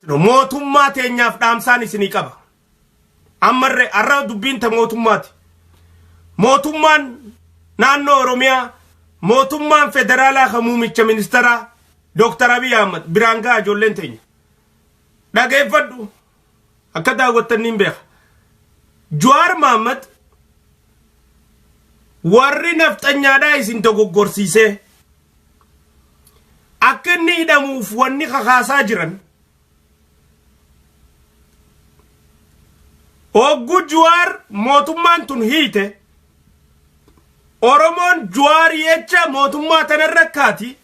Mootummaa teenyaaf dhaamsaan isinii qaba. Ammarre har'a dubbiin ta mootummaati. Mootummaan naannoo Oromiyaa mootummaan federaalaa kan muumicha ministeeraa Dooktar Abiy Ahmad biraan ga'a ijoolleen teenya. Dhageeffadhu akka daawwattan niin beeka. Jawaar Mahaammad warri nafxanyaadhaa isin dogoggorsiisee Akka inni hidhamuuf wanni kakaasaa jiran Hogguu Juwaar mootummaan tun hiite Oromoon Juwaar jecha mootummaa tana irra kaati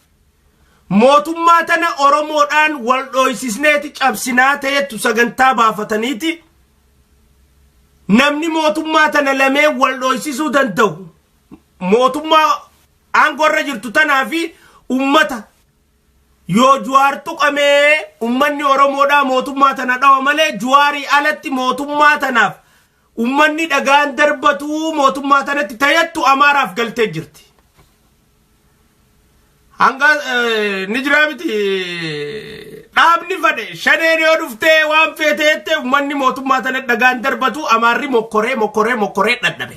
mootummaa tana Oromoodhaan wal dhooysisneeti cabsinaa ta'ettu sagantaa baafataniiti namni mootummaa tana lamee wal dhooysisuu danda'u mootummaa Aangoo irra jirtu tanaa fi ummata Yoo Juwaar tuqamee ummanni Oromoodhaa mootummaa tana dhawa malee Juwaarii alatti mootummaa tanaaf ummanni dhagaan darbatuu mootummaa tanatti tayattu Amaaraaf galtee jirti. Hanga ni jiraa miti dhaabni fadhe shaneen yoo dhuftee waan feete jettee ummanni mootummaa tana dhagaan darbatuu Amaarri mokkoree mokkoree mokkoree dhadhabe.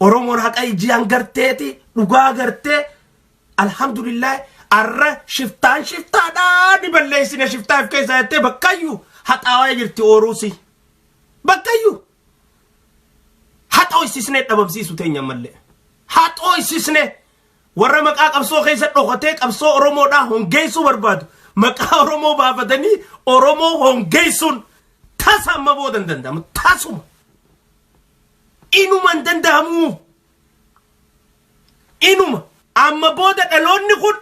Oromoon haqa ijii hangarteeti dhugaa gartee alhamdulillah arra shiftaan shiftaadhaa ni balleessine shiftaaf keessaa jettee bakkayyu haxaawaa jirti ooruusi bakkayyu haxoo isisnee dhabamsiisu teenya mallee haxoo isisnee warra maqaa qabsoo keessa dhokatee qabsoo oromoodhaa hongeessuu barbaadu maqaa oromoo baafatanii oromoo hongeessuun tasa amma booda hin danda'amu tasuma Inuma hin danda'amuu. Inuma. Amma booda dhaloonni kun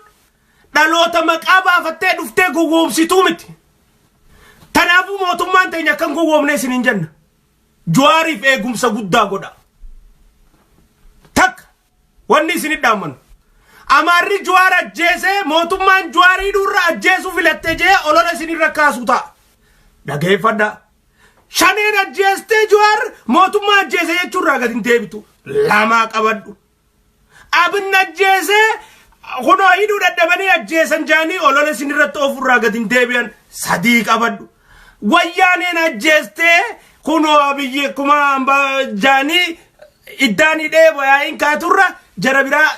dhaloota maqaa baafattee dhuftee gowwoomsituu miti. Tanaafuu mootummaan teenya akka hin gowwoomne isiniin jenna. Juwaariif eegumsa guddaa godhaa. Wanni isin dhaammannu. Amaarri Juwaar ajjeese mootummaan Juwaar hidhuurra ajjeesuu filatte jee olola isinirra kaasu ta'a. Dhageeffadha. Shaneen ajjeestee Juwaar mootummaa ajjeese jechuurraa gad hin deebitu. Lamaa qabadhu. Abin ajjeesee kunoo hidhuu dadhabanii ajjeesan jaanii olola isinirratti oofurraa gad hin deebi'an sadii qabadhu. Wayyaaneen ajjeestee kunoo abiyyi akkuma ambaa jaanii iddaan hidhee bayaa'iin kaaturra jara biraa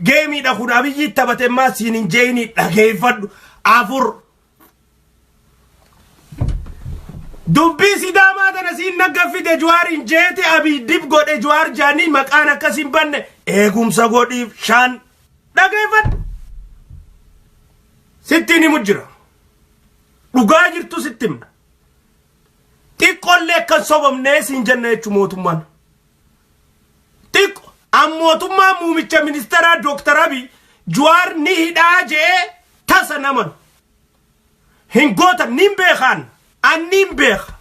geemiidha kun abiyyi taphate maa siin hin jeeyini dhageeffadhu afur. Dubbii sidaamaa tana siin naggaffite juwaar hin jeeti abiy dib godhe juwaar jaanii maqaan akkas hin banne eegumsa godhiif shan dhageeffadhu. Sittiin himu jira. Dhugaa jirtu sitti himna. Xiqqollee akkan sobamnee siin jenna jechuun mootummaan. Xiqqo an mootummaa muumicha ministeeraa Dooktar Abiy Juwaar ni hidhaa je'ee tasa naman. Hin gootan niin beekaan an niin beeka.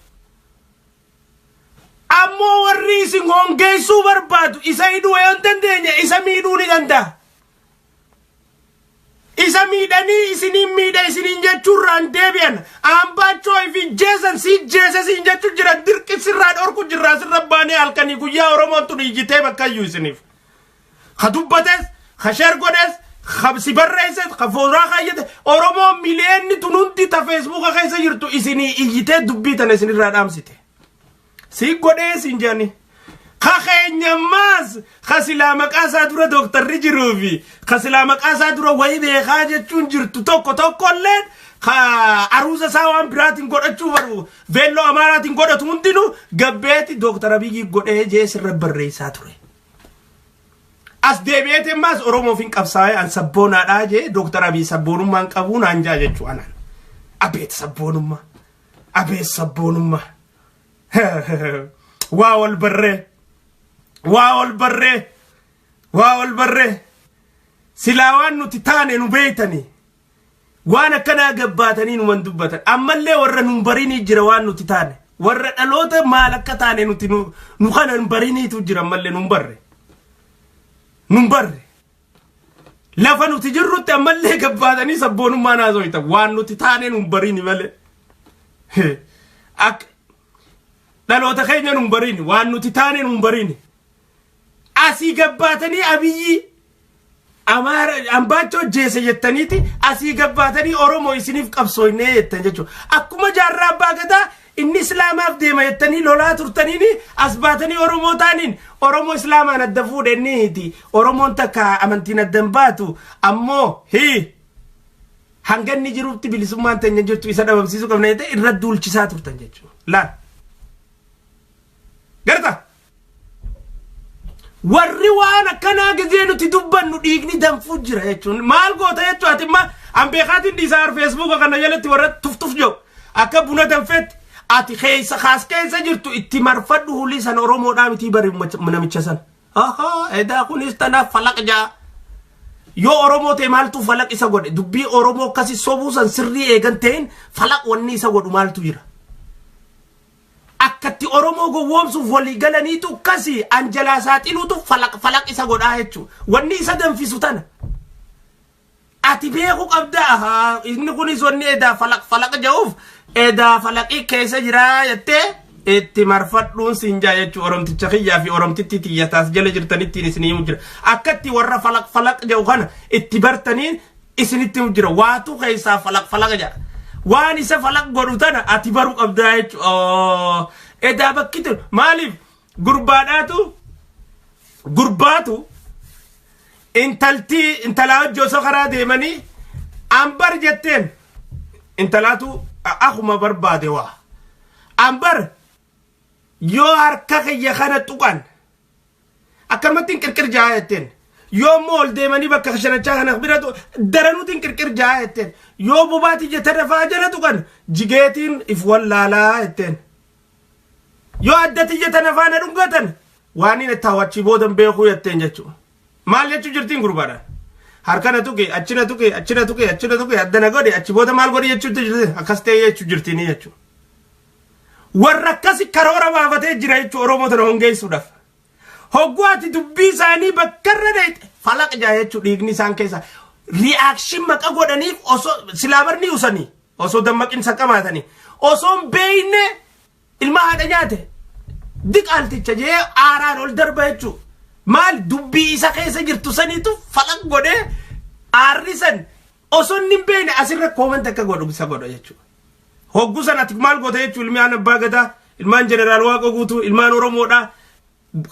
Ammoo warri isin hongeessuu barbaadu isa hidhuu yoo hin dandeenye isa miidhuu ni danda'a. Isa miidhanii isiniin miidha isiniin jechuurraan deebi'an Ambaachoo fi jeesan si jeese siin jechuu jira dirqi sirraa dhorku jirraa sirra baanee halkanii guyyaa Oromoon tun iyyitee bakkayyuu isiniif. Ka dubbates, ka sheer godhes, ka si barreesses, ka fooraa kaayyate Oromoo miliyeenni tun hundi ta feesbuuka keessa jirtu isinii iyyitee dubbii tana isinirraa dhaamsite. Si godhee siin jedhani. Ka keenya maas ka silaa maqaa isaa dura dooktarri jiruu fi ka silaa maqaa isaa dura wayii beekaa jechuun jirtu tokko tokko illee ka aruuza isaa waan biraatiin godhachuu baru veelloo amaaraatiin godhatu hundinuu gabbeeti dooktar Abiyyi godhee jee sirra barreessaa ture. As deebi'eetiin maas Oromoof hin qabsaa'ee an sabboonaadhaa jee dooktar Abiyyi sabboonummaan qabuu naan jaa jechuu anaan. Abeet sabboonummaa. Abee sabboonummaa. Waa wal barree. Waa wal barree. Waa wal barree. Silaa waan nuti taane nu beeytanii. Waan akkanaa gabbaatanii numan dubbatan. Ammallee warra nun barinii jira waan nuti taane. Warra dhaloota maal akka taane nuti nu nu kana hin bariniitu jira ammallee nun barre. Nun barre. Lafa nuti jirrutti ammallee gabbaatanii sabboonummaa naasoyta waan nuti taaneen hin bariini malee. Akka dhaloota keenya hin bariini waan nuti taaneen hin bariini. Asii gabbaatanii abiyyii amaara ambaachoo hojjeese jettaniiti asii gabbaatanii oromoo isiniif qabsooynee jettan jechuudha. Akkuma jaarraa abbaa gadaa Inni islaamaaf deema jettanii lolaa turtaniini as baatanii oromoo taaniin oromoo islaamaan adda fuudhe inni hiti oromoon takka amantiin adda hin baatu ammoo hii hanga inni jirutti bilisummaan tanya jirtu isa dhabamsiisuu qabna jettee irra duulchisaa turtan jechuudha laal garta warri waan akkanaa gizee nuti dubbannu dhiigni danfuu jira jechuun maal goota jechuu ati imma an beekaatiin dhiisaa ar feesbuuka kana jalatti warra tuftuf jiru akka buna danfeetti ati keessa kaas keessa jirtu itti marfadhu hulii sana oromoodhaa mitii bari namicha sana ahaa edaa kunis tanaaf falaq jaa yoo oromoo ta'e maaltu falaq isa godhe dubbii oromoo akkasi sobuu san sirrii eegan ta'in falaq wanni isa godhu maaltu jira akkatti oromoo gowwoomsuuf walii galaniitu kasi an jalaa saaxiluutu falaq falaq isa godhaa jechu wanni isa danfisu tana ati beeku qabda ahaa inni kunis wanni edaa falaq falaq ja'uuf edaa falaqii keessa jiraa jettee itti marfadhuun siin jaa jechuu oromticha kiyyaa fi oromtitti tiyyataas jala jirtanittiin isinii jira akkatti warra falaq falaq ja'u kana itti bartanii isinitti himu jira waatu keessaa falaq falaqa jedha waan isa falaq godhu tana ati baru qabdaa jechu edaa bakki tun maaliif gurbaadhaatu gurbaatu intaltii intalaa hojii osoo karaa deemanii ambar jetteen intalaatu akuma barbaade waa ambar yoo harka kiyya kana tuqan akkanumattiin qirqir ja'a jetteen yoo immoo ol deemanii bakka kashanachaa kana bira tu- daranuutiin qirqir ja'a jetteen yoo bobaatii jetta dafaa jala tuqan jigeetiin if wallaalaa jetteen yoo addati jetta nafaa na dhungatan waaniin itti hawachii boodan beekuu jetteen jechuudha maal jechuu jirtiin gurbaadhaan harkana tuqe achina tuqe achina tuqe achina tuqe addana godhe achi booda maal godhe jechuutti jirti akkas ta'ee jechuu jirtiinii jechuudha warra akkasi karoora baafatee jira jechuun Oromoo tana hongeessuudhaaf. Hogguu ati dubbii isaanii bakka irra deete falaq jaa jechuun dhiigni isaan keessa ri'aakshin maqa godhaniif osoo silaa barni usanii osoo dammaqin saqamaatanii osoo hin beekne ilma haadha nyaate diqaalticha jee aaraan ol darba jechuun maal dubbii isa keessa jirtu saniitu falaq godhee aarri san osoo inni hin beekne asirra koomanta akka godhu isa godha jechuudha. Hoggu san ati maal goota jechuu ilmi aan abbaa gadaa ilmaan jeneraal waaqa guutuu ilmaan oromoodha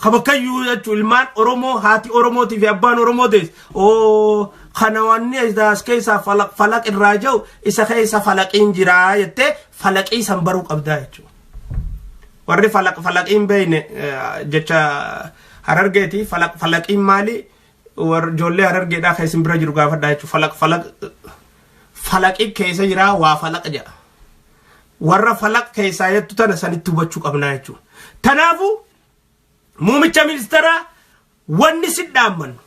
ka bakkayyuu jechuu ilmaan oromoo haati oromootii fi abbaan oromoo dees oo kana wanni as keessaa falaq falaq irraa jau isa keessa falaqiin jiraa jettee falaqii san baruu qabdaa jechuu warri falaq falaqiin beeyne jecha harargeeti falaq falaqiin maali war ijoollee harargeedhaa kan isin bira jiru gaafadhaa jechuudha. Falaq falaq falaqi keessa jiraa waa falaq jedha. Warra falaq keessaa jettu tana sanitti hubachuu qabnaa jechuudha. Kanaafuu muumicha ministeeraa wanni si dhaammannu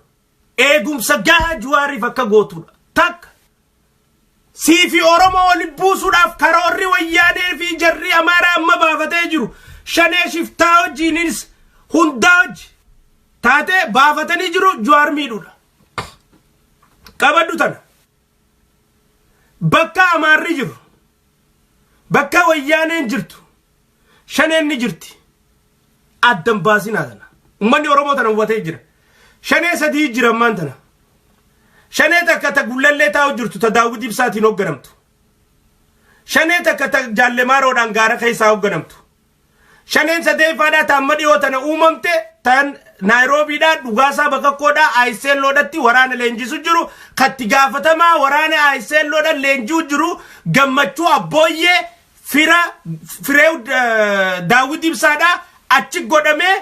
eegumsa gahaa juwaariif akka gootuudha. Takka Siifi Oromoo wali buusuudhaaf karoorri Wayyaanee fi jarri Amaaraa amma baafatee jiru shanee shiftaa wajjiinis hundaa wajji taatee baafatanii jiru Juwaar miidhuudha. Qabadhu tana. Bakka Amaarri jiru, bakka Wayyaaneen jirtu, Shaneen ni jirti. Adda hin baasinaa tana. Ummanni Oromoo tana hubatee jira. Shanee sadii jira ammaan tana. Shanee takka ta gullallee taa'u jirtu ta daawwit ibsaatiin hoogganamtu. Shanee takka ta jaallemaaroodhaan gaara keessaa hoogganamtu. Shaneen sadeeffaadhaa ta amma dhiyoo tana uumamte tan Naayiroobiidhaa dhugaasaa bakakkoodhaa Ayiseelloodhatti waraana leenjisu jiru katti gaafatamaa waraana Ayiseelloodhaan leenji'u jiru gammachuu abbooyyee fira fireew daawwit ibsaadha achi godhamee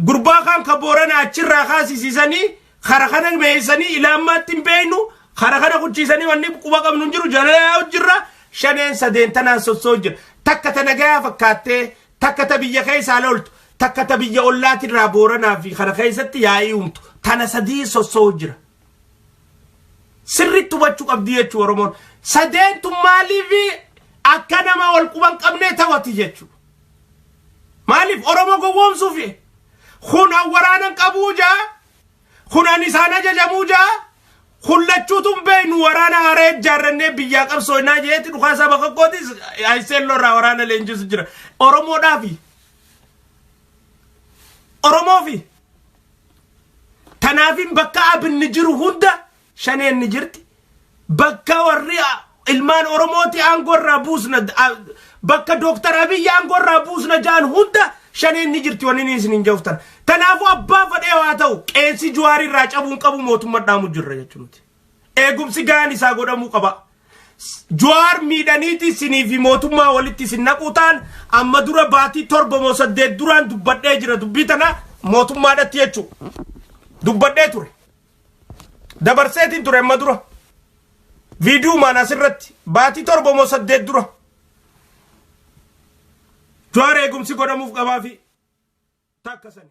gurbaa kaan ka boorana achirraa kaasisiisanii kara kana meeysanii ilaammaatti hin beeynu kara kana kuchiisanii wanni quba qabnu hin jiru jalalaa hojjirra shaneen sadeen tanaan sossoo jira takka ta nagayaa fakkaattee takka ta biyya keessaa loltu takka ta biyya ollaatirraa booranaa fi kana keessatti yaa'ii uumtu tana sadii sossoo jira. sirriitti hubachuu qabdi jechuu Oromoon. Sadeentu maaliif akka nama wal quban qabnee taphati jechuu. Maaliif Oromoo gowwoomsuufi? Kun an waraanan qabuu jaa, kun an isaan ajajamuu jaa, kun lachuutu hin beeknu waraana haree ijaarrannee biyyaa qabsooynaa jeeti dhukaasaa bakka kootis ISL irraa waraana leenjisu jira. Oromoodhaafi. Oromoofi. Tanaafin bakka abinni jiru hunda shaneen ni jirti. Bakka warri ilmaan Oromooti aangoo irraa buusna bakka Dooktar Abiyyi aangoo irraa buusna ja'an hunda shaneen ni jirti wanni isin hin joftan. Tanaafuu abbaa fadhee waa ta'u qeessi Juwaari irraa cabuun qabu mootummaa dhaamu jirra jechuudha. Eegumsi gahaan isaa godhamuu qaba. Jawaar miidhaniiti isinii fi mootummaa walitti isin naquu ta'an amma dura baatii torba moo saddeet duraan dubbadhee jira dubbii tana mootummaadhatti jechuu dubbadhee ture. Dabarseetiin ture amma dura. Viidiyuumaan asirratti baatii torba moo saddeet dura. Jawaar eegumsi godhamuuf qabaa fi takka sani.